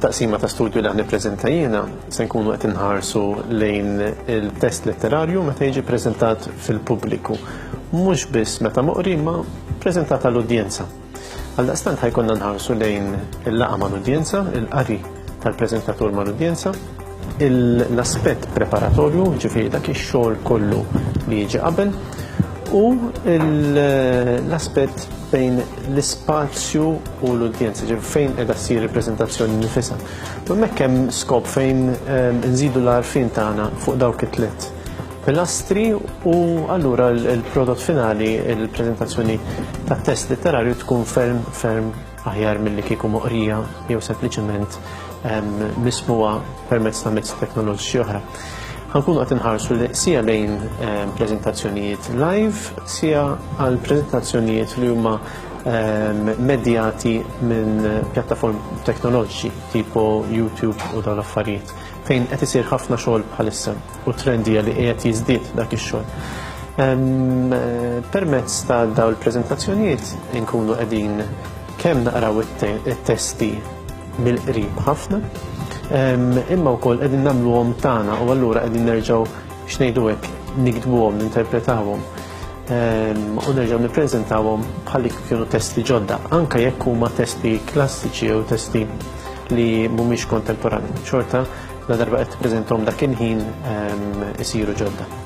taqsima ta' studju li għan prezenta jiena se nkunu qed inħarsu lejn il-test letterarju meta jiġi prezentat fil-pubbliku. Mhux biss meta moqri ma prezentat għall-udjenza. Għal-daqstant ħajkonna nħarsu lejn il-laqa mal-udjenza, il-qari tal-preżentatur mal-udjenza, l-aspett preparatorju, ġifieri dak ix-xogħol kollu li jiġi qabel, u l-aspett bejn l-ispazju u l-udjenza, ġifieri fejn qiegħda ssir il-preżentazzjoni nifisha. U hemmhekk hemm skop fejn ehm, nżidu l-għarfien tagħna fuq dawk it-tliet pilastri u allura l-prodott finali, il-preżentazzjoni tat-test letterarju tkun ferm ferm aħjar milli kieku moqrija jew sempliċement mismuha permezz ta' mezzi teknoloġiċi oħra. Ħankunu qed inħarsu sija lejn preżentazzjonijiet live, sija għal preżentazzjonijiet li huma medjati minn pjattaform teknoloġiċi tipo YouTube u dawn l-affarijiet. fejn qed isir ħafna xogħol bħalissa u t-trend hija li qiegħed jiżdied dak ix-xogħol. Permezz ta' dawn il-preżentazzjonijiet inkunu qegħdin kemm naqraw it-testi mill-qrib ħafna, imma wkoll qegħdin nagħmluhom tagħna u allura qegħdin nerġgħu x'ngħidu hekk niktbuhom, ninterpretawhom u nerġgħu nippreżentawhom bħal li kienu testi ġodda, anke jekk huma testi klassiċi jew testi li mhumiex kontemporanji, xorta la darba qed tippreżenthom dak il-ħin ehm, isiru ġodda.